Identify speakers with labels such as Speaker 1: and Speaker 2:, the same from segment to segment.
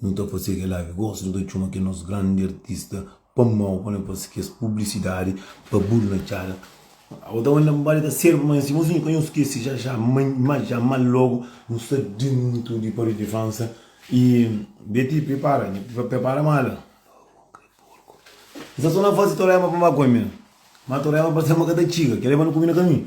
Speaker 1: Nu ta fase kel la ki gosta, nu ta txoma kel nos grandi artista pa mau pa nu fase kes publisidadi pa bur na txada. Awa ta manda nbali ta serba ma nsima su nu ka nhos skese ja ja ma ja ma logo nu sta dentu di Paris de França y Betty pripara pripara mala N sta so na fase Toraiama pa Maconha ma Toraiama parse ma ka ta txiga kel la e ba nu kume na kaminhu.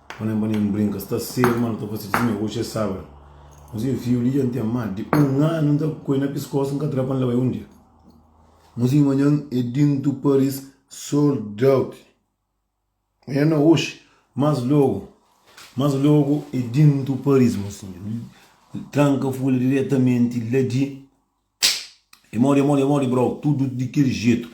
Speaker 1: Bo nem pa nem brinka sta serio ma nu ta fase ti negoshi es sabra museu fiu li dja n ten ma di un anu n ta ku el na piskos n ka tra pa n leba el un dia museu manhan e dintu paris sold out nha na oxi mas logu mas logu e dintu paris museu tranka fula diretamenti la di Emodi emodi emodi brou tudu di kel jetu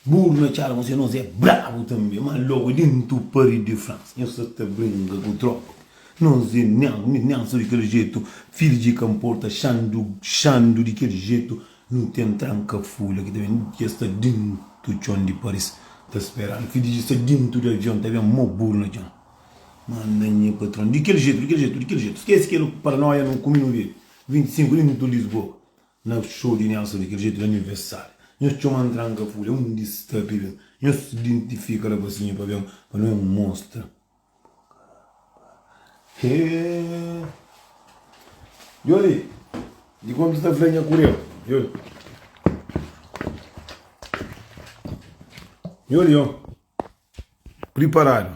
Speaker 1: buru na txada konsé nos é brabu tanbe ma logu dentu pari de france nhos sa ta bringa ku tropa nos é nian ni nian so di kel jetu fidju di kanporta xandu xandu di kel jetu nu ten tranka fula ki ta ben di es ta dentu txon di paris ta speranu fidju di sta dentu di avion ta ben mo buru na txon manda nha patron di kel jetu di kel jetu di kel jetu skese kel paranoia nu kumi nu vê 25 di Minutu Lisboa Na xou di Nelson di kel jetu la mi vesária Nhos txoma antranka fúria undi sta pibe Nhos identifika la fasinha pa ben pa nu N mostra Êêêêê Yo li di konta sta fla nha kureba Yo li Yo li Yo priparadu.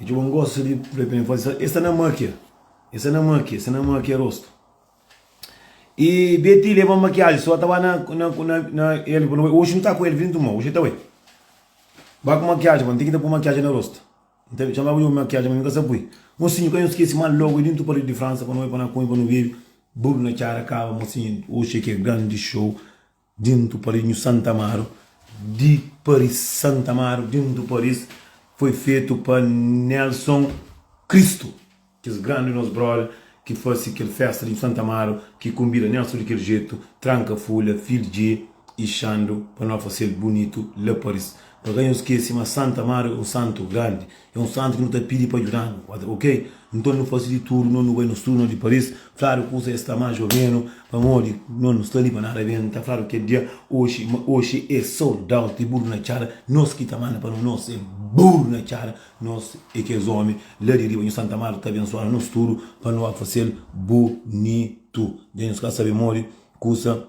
Speaker 1: E txeu ben gosta di fla pa mi, fla di, e sta na makia, e sta na makia, e sta na makia rostu. E Betty leba-m makiaji, so ta ba na na el fla ma, oxi nu ta ku el, vin tuma, oxi ta bai. Ba ku makiaji bo, N ten ki ta pui makiaji na rostu. N ta txomaba djobe makiaji ma mi ka sa pui. Mosinhu ka nu skese mal logu di ntu paludi di Fransa pa nu bai pa na kume pa nu bebe, buru na txara kaba, mosinhu, oxi e ki e grandi xou. Dintu Paris nhu Santa Amaru di Paris Santa Amaru dintu Paris foi fetu pa Nelson Cristo kes grandi nos brother ki fase kel festa di nhu Santa Amaru ki konbida Nelson di kel jetu tranka fulha fil dje y xandu pa no fasel bunitu la Paris pa ka nhu skese ma Santa Amaru é un santu grandi É un santu ki nu ta pidi pa djuda-nu. Otra, Ok, nton nu fase di tudu, no nu bai nos tudu, no di Paris, fladu kusa es sta más o menu, pamodi no nu sta li pa nada ben, ta fladu kel dia oxi, ma oxi é sold out di burru na txada, nos ki ta manda pa no, nos é burru na txada, nos é kes omi la di riba, nho Santa Marta ta abensuanu nos tudu pa no a fase-l bonitu, dja nhos ka sabe modi kusa.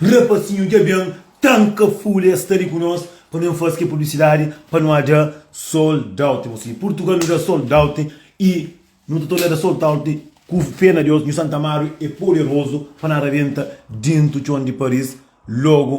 Speaker 1: Rapasinhu dja ben tanka fule es sta li ku nos pa ben fase kel publisidadi pa nu adja soldout mos li purtugal nu dja soldout y nu ta torna dja soltout ku fé na deus nhu santa amadu é poderozu pa na rabenta dentu txon di paris logu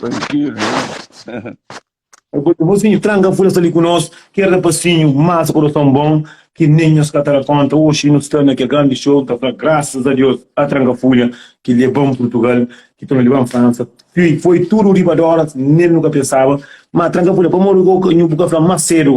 Speaker 2: Trankilu
Speaker 1: nha. Bosinhu tranga fula sta li ku nos kel rapasinhu masa kurason bon ki nen nhos ka ta da konta oxi nu sta na kel grandi show ta fla grasas a Deus a tranga fula ki leban purtugal ki ta nu leban fransa foi tudu riba doras nen nu ka pensaba ma tranga fula pamodi bu ka fla mas sedu.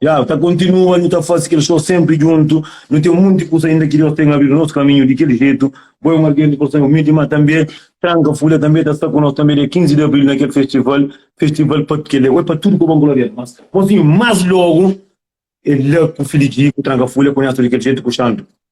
Speaker 2: Ya,
Speaker 1: ta kontinua nu ta fase kel show senpri djuntu nu ten munti kusa ainda ki Deus ten abridu nos kaminhu di kel jetu bo é un algen di korson umildi ma tanbe tranka fule tanbe ta sta ku nos tanbe dia 15 di abril na kel festival festival pa kel é oi pa tudu ku bon gloria a Deus mas mas logu é la ku filijiku tranka fule konhesa tudu di kel jetu ku xandu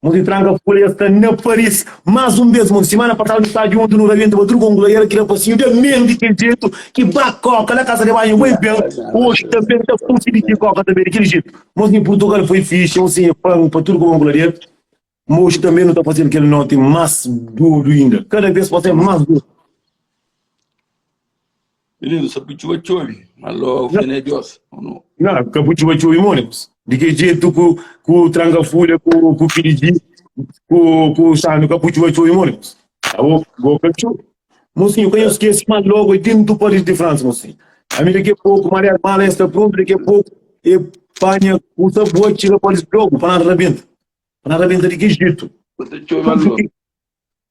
Speaker 1: Mos di tranka fólia sta na Paris más un bês mon Simana pasadu nu staba djuntu nu rabienta ba tudu kongula i éra ki da pasinhu da mel di kel djetu ki ba kóka la kasa de banhu bai ben oxi tanbê n ta kusi di ki kóka tanbê di kel djetu mos na purtugal foi fixi un sinha panu pa tudu kongula di el ma oxi tanbê nu ta faze-l kel noti más dodu inda kada bês pa ser más dodu.
Speaker 2: Menino, sa bu txuba txobi, ma lo fe n'é Dios, o no? Na, ka bu
Speaker 1: txuba txobi Monikus? Di ke djetu ku, ku Trankafulha, ku, ku Kididi, ku, ku Xandu ka bu txuba txobi Monikus? Abo, bo ka txubi. Mosinhu, ka nhos skese ma logu é dentu Paris di Fransa, mosinhu. Ami daki a poku, marias mala ya sta prontu, daki a poku e panha kusa bua txiga Paris logu pa na rabenta, pa na rabenta di ke djetu. Bu ta txobi ma logu?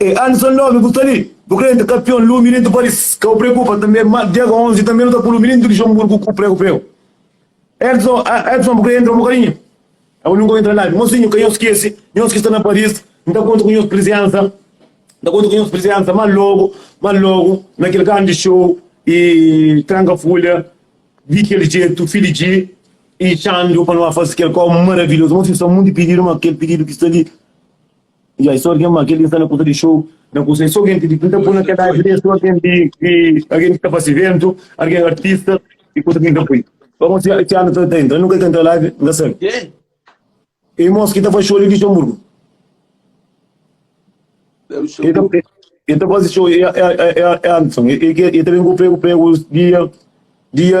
Speaker 1: E anu sa nomi bu sta li bu krê nta kapion lumi nen tu paris ka bu preokupa tanbe ma diaga 11 tanbe nu ta pulu mi nen tu di xonbur ku ku pregu pregu edson ah edson bu krê entra un bokadinhu abo nu ka bu entra nada mosinhu ka nhos skese nhos ki sta na paris nta konta ku nhos prizensa nta konta ku nhos prizensa ma logu ma logu na kel grandi show e tranka fulha di kel jetu fidju dji e xandu pa nu a fase kel kau maravilhozu mosinhu sta munti pididu ma kel pididu ki sta li Ya, é sô algen má. Kel ki N sta na kuza di xou, na kuza, é sô algen ki N ta pui na kel ladu li. É sô algen di, di, algen ki ta fase ivéntu, algen artista i kuza ki N ta pui. Má gosi, si anu ta intra, N nunka ka intra laivi, N ka sabe. Irmons ki ta faze xou li Luxenburgu, el ta faze xou. É Anderson, el ta ben ku pregu, pregu dia, dia.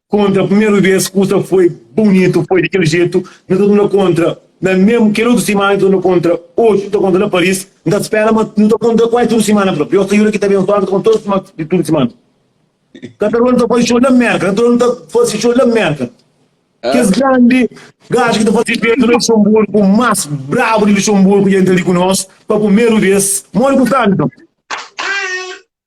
Speaker 1: Kontra primeru vez kusa foi bunitu, foi di kel jetu, nu ta duna kontra na mesmu kel otu simana nu ta duna kontra, oji nu ta kontra na Paris, nu ta spera ma nu ta kontra kuazi tudu simana, prontu nhos ta juda ki ta abensoadu, nu ta kontra tudu simana, di tudu simana. Katarone ta faze xou na Merka, Katarone ta faze xou na Merka, kes grandi gaja ki ta faze xou na Luxemburgo, mas brabu di Luxemburgo dja intra li ku nos pa primeru vez, modi ku sta nton?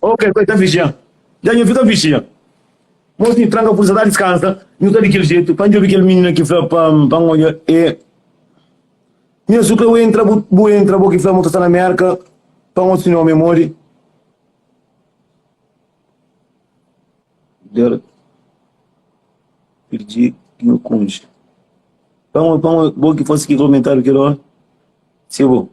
Speaker 2: Oh, kel
Speaker 1: koi ta vijia. Dja nhu fika vijia. Mo si tranka purta ta diskansa, nhu sta di kel jetu, pa N djobi kel minina ki fla pa N odja e. Nha su kla bu entra, bu bu entra, bo ki fla mo ta sta na Merka, pa N odja si nha omi é modi. Der pirdi nhu kunji. Pa N odja, pa N odja, bo ki fase ki komentariu kel ora, si é bo.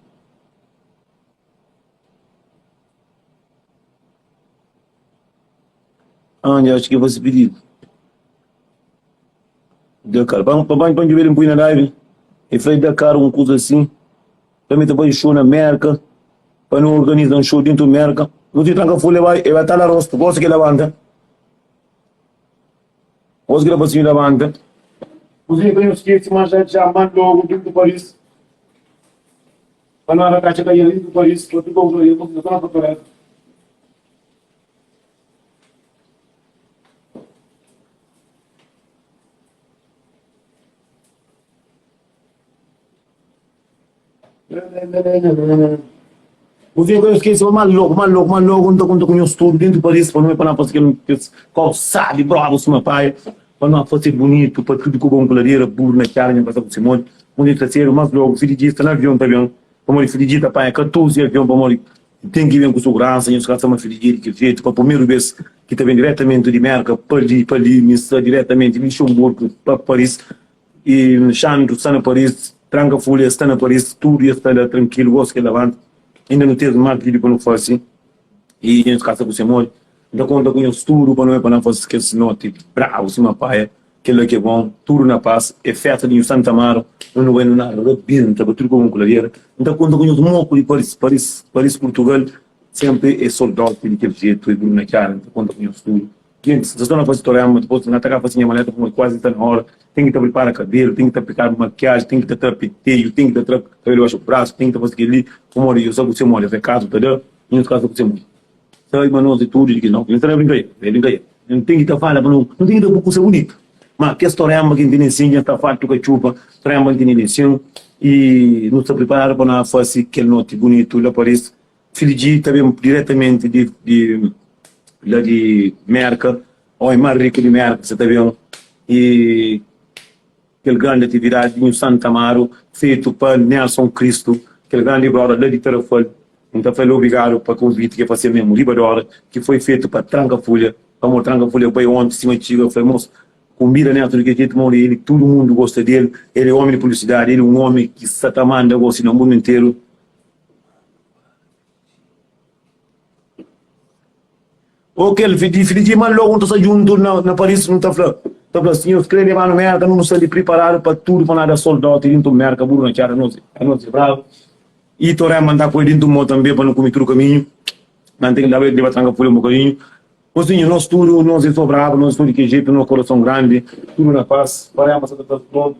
Speaker 1: Anja atxi ki faze pididu. Da kal. Ba ba ba djubi el inpui na live. E fla e da kal un kuza sin. Pa mi ta bai show na Merka. Pa nu organiza un show dintu Merka. Nu ti tranka ful e bai e bai tala rostu. Gosi ki el labanta. Gosi ki el pasinhu labanta. Kuzinha pa nu skese manjá dja man logu dintu Paris. Pa no arraka txeka Ian riba pa is otu povu na Ian pa no prepara el. Bus vinha kue skese ma logo, ma logo, ma logo, nta kunta ku nhos tudu dintu Paris pa no me pa na pasa kel kob sadi, brabu suma pai. Pa no fase bunitu pa tudu ku bon ku ladera buru na txada nha pasa ku simon undi el ta sedu mas logu fidiji sta na avion ta ben pamodi fidiji ta panha 14 avion pamodi el ten ki ben ku suguransa nhos ka sta ma fidiji é di kel jetu pa purmeru bes ki ta ben diretamenti di merka pa li pa li mi sta diretamenti luxemburgu pa paris y xandru sta na paris tranka fuli es sta na paris tudu es sta la trankilu gos ki el labanta inda nu ten mas vídiu pa nu fase i nhos kasa ku se modi N ta konta ku nhos tudu pa noi pa na fase kes noti brabu sima paia kela ki é bon tudu na pas é festa di nhos Santa Amaro un novenu na rabenta pa tudu ku bon ku ladeira N ta konta ku nhos moku di Paris Paris Paris Purtugal senpri é sol dósi di kel jetu é bruna txara N ta konta ku nhos tudu. Klienti, Dja sta na fazi torema, dipos di na ta ka fazi nha maleta pamodi kuazi sta na ora. Ten ki ta pripara kabelu, ten ki ta aplikadu makiaji, ten ki ta tra penteju, ten ki ta tra kabelu dibaxu brasu, ten ki ta fazi kel-li pamodi yo sa kuzê modi afekadu ta da i nos ka sa kuzê modi. Sa ima nos di tudu di ki no. Klienti, Sta na brinka e? Sta na brinka e? N ten ki ta fala pa no, no ten ki ta pui kuza bunitu. Ma kes torema ki N tene nsin dja sta fartu katxupa. Torema ki N tene nsin i no sta priparadu pa no fazi kel noti bunitu la pa Paris. Fidju Ji ta ben diretamenti di la di Mérka, ómi más riku di Mérka sa ta ben i kel grandi atividadi di Nhu Santa Amaru fetu pa Nelson Kristu, kel grandi broda la di Tarrafal. N ta fla-l obrigadu pa konviti ki el fase-m mésmu riba di óra, ki foi fetu pa Trankafulha. Pamodi es Trankafulha bai ónti sima txiga, fla-l, Mos, kunbida Nelson di kel jetu ma el tudu mundu gosta di el. El é ómi di publisidadi, el é un ómi ki sa ta manda gosi na mundu interu. Ô kel fidi-fidi di ma lógu nu ta sta djuntu na Paris, nu ta fla, ta fla, Sinhor, krê leba-nu Mérka, nu nu sta li priparadu pa tudu, pa nu ada soldau ti dintu Mérka, buru na txada, nos nos é brabu. Y Torén manda n poi dintu mô tanbe pa nu kume tudu kaminhu, na ten ki laba el deba tranka pulha un bokadinhu. Ô sinhor, nos tudu, nos é so brabu, nos é so di kel jetu, nos korason grandi, tudu na pas. Torén manda sa ta tra-s nodi.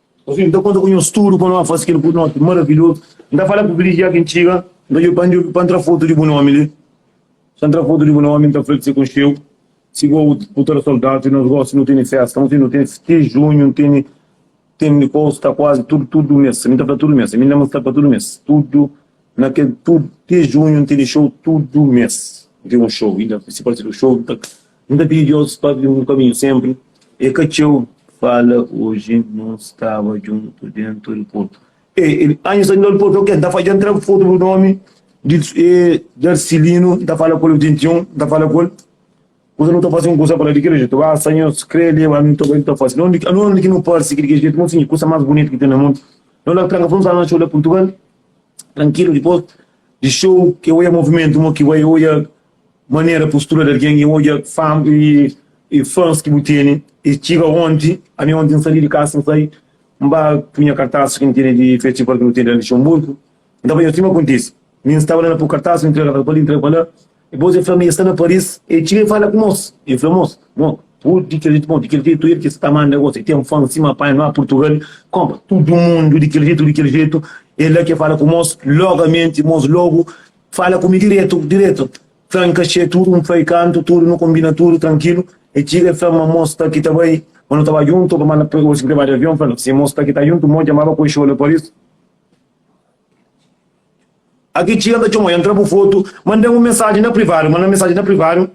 Speaker 1: Ô fin, N ta konta ku nhos tudu pa nu ba fase kel bunoti maravilhozu. N ta fala ku kel-li dja ki N txiga, N ta djobe pa N djobe pa N tra fotu di bu nomi li. Sa N tra fotu di bu nomi, N ta fla-l ki se konxe-u si bo bu ta da soldadu di nos. Gósi nu tene fésta, un fin, nu tene ti junhu, N tene tene kos sta kuazi tudu tudu mês. Mi N ta fla tudu mês, mi N da-m un sta pa tudu mês. Tudu na kel tudu ti junhu, N tene xou tudu mês. N tene un xou inda, si parse di un xou. Nu ta pidi Deus pa abri un kaminhu sénpri. El ka txeu fala oji nu staba djuntu déntu di portu. E el anju sta djuntu di portu, ok, N ta fadja, N tra fotu bu nomi di Darsilinu, N ta fala ku el, 21, N ta fala ku el kuza nu ta fase, un kuza fala di kel jetu, a Senhor, si kre leba mi, ntô kel ki nu ta fase, nau anu anu ki nu parse ki di kel jetu, nsinha kuza más bunitu ki ten na mundu. Nu la tranka fun sala na txeu la Portugal, trankilu, dipôs di xou, ki oja movimentu, mo ki bai oja manera postura di algen i odja fam i fans ki bu tene i txiga onti ami onti n sali di kasa n sai n ba punha kartas ki n tene di festival ki nu tene na luxemburgo n ta bai sima kontise mi n staba la na poi kartas n ntrega kartas pa li n ntrega pa la dipôs el fla ma el sta na paris el txiga el fala ku nos el fla mos bo pudi kel jetu bon di kel jetu el ki sta manda gosi el ten fans sima panha na purtugal konpra tudu mundu di kel jetu di kel jetu el la ki el fala ku mos logamenti mos logu Fala ku mi diretu, diretu. Fla-m N ka xie tudu, N fla-i kantu, tudu, nu konbina tudu, trankilu. E txiga, e fla-m ma mo sta ki ta bai, ma nu ta ba djuntu, pa manda osi ki ta ba di avion. Fla-l, si mo sta ki ta djuntu, mo djamaba ku e xola Paris. A ki txiga, N ta txoma-u, e N tra bu fotu. Manda-m un mensaji na privadu, manda-m mensaji na privadu,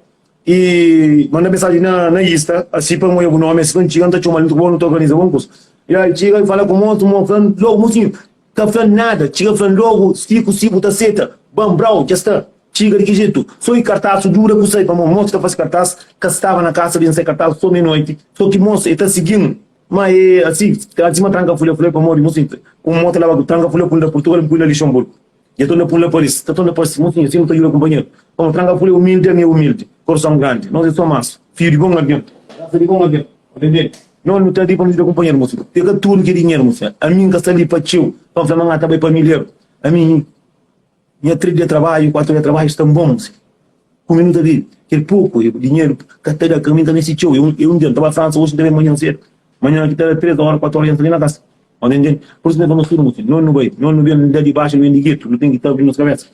Speaker 1: i manda-m mensaji na Insta, asi pa N oja bu nomi, asi pa N txiga, N ta txoma-l, N ta bo, nu ta organiza bon kusa. Ya e txiga, e fala ku mos, mo fla-l, logu, mosinhu, Ka fla-m nada, txiga fla-m logu Siku si bu ta seta, ban brau, dja sta Txiga di ki jetu, so i kartasu Dura ku sai pamó, mos ki ta fase kartas Ka staba na kasa ben sai kartas so menoiti So ki mos e ta sigi-m ma e asi Asi ma tranka fule fule pamodi mu sinti Kuma mo ta laba ku tranka fule punda Purtugal N pui na Lixonburgu Dja tonda pun la Paris Ka tonda parsi Mosinhu si nu ta juda kunpanheru Pamo tranka fule umildi ami e umildi Korson grandi nos e so mas Fiu di bon algen Rasa di bon algen. Nau nu ta li pa nu djuda kunpanheru Mos pega tudu ki é dinheru Mos ami N ka sta li pa txeu Pa N fla ma N ta bai pa midjeru Ami nha três dia trabadju Kuatu dia trabadju sta bon Mos ku mi nu ta vive Kel poku dinheru ka ta da Ka mi ka meste txeu E un dia N ta bai Fransa Oji N ta ben manhan sedu Manhan ki ta da três óra kuatu óra N sta li na kasa Pur isu nu fla nos tudu Mos nau nu bai Nau nu ben la di baxu nu ben di getu Nu ten ki ta abri nos kabésa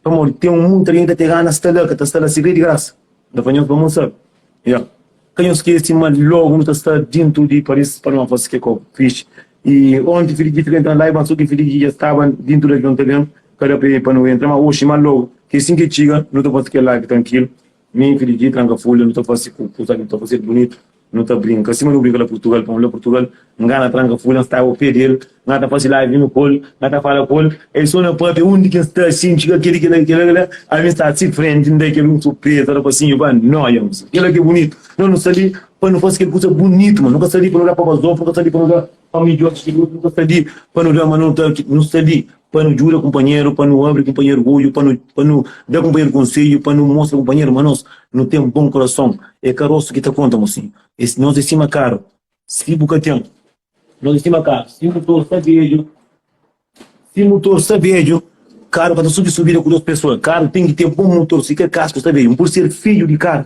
Speaker 1: Pamodi ten un monti algen ki ta tregana Sta la ka ta sta la Segredu di grasa. Da pa nhos pa mos sabe. Ya. Ka nhos skese ma logu nu ta sta dintu di Paris pa Nova sike ko fitch. I onti fidji di Fidji ta la i ba so ki fidji ki ja staba dintu di avion ta ben ka da pe pa nu entra ma oxi ma logu ki sin ki txiga nu ta fasi kel live trankilu mi fidji tranka folha nu ta fasi ku kusa ki nu ta fasi el bunitu. Nu ta brinka sima nu brinka la purtugal pamo la purtugal nga na tranka ful na staba pé del nga ta fase live nu kol nga ta fala kol el so na papia undi ki nsta si nci ka keri kila kila kila ami sta si frenti nda kel un surpresa ora pa si nhu ba noia kila ki bunitu no nu sta li pa nu fase kel kusa bunitu ma nu ka sta li pa nu da pabazon nu ka sta li pa nu da. Pa midjor di tudu, nu ka sta li pa nu da, má nu ta. Nu sta li pa nu djuda kunpanheru, pa nu abri kunpanheru odju, pa nu pa nu da kunpanheru konsedju, pa nu mostra kunpanheru ma nos nu ten bon kurason. É karosu ki ta konta, mosinhu. É si nos é sima karu, si bu ka ten. Nos é sima karu, si mutor sta bedju. Si mutor sta bedju, karu ka ta subi subida ku dôs pesoa. Karu ten ki ten bon mutor, si ka kasku sta bedju. N pode ser fidju di karu.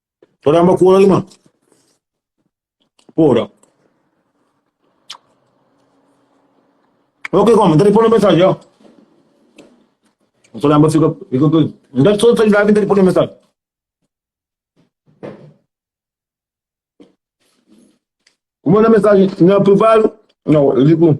Speaker 1: Ora amba ku ora irman. Ora. Ok, koma, nta di pone mensagem, ó. Ora amba fica, fica tudo. Nta só sai live, nta di pone mensagem. Como na mensagem, na privado, não, eu digo,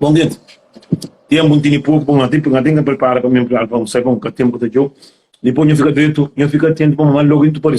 Speaker 1: Bom dia Tenpu N tene poku N ten N ten ka pripara pa mi entrada pa un sai pa un ka Tenpu ta djau Dipôs nha fika dretu Nha fika atentu pamodi má logu N ta parese.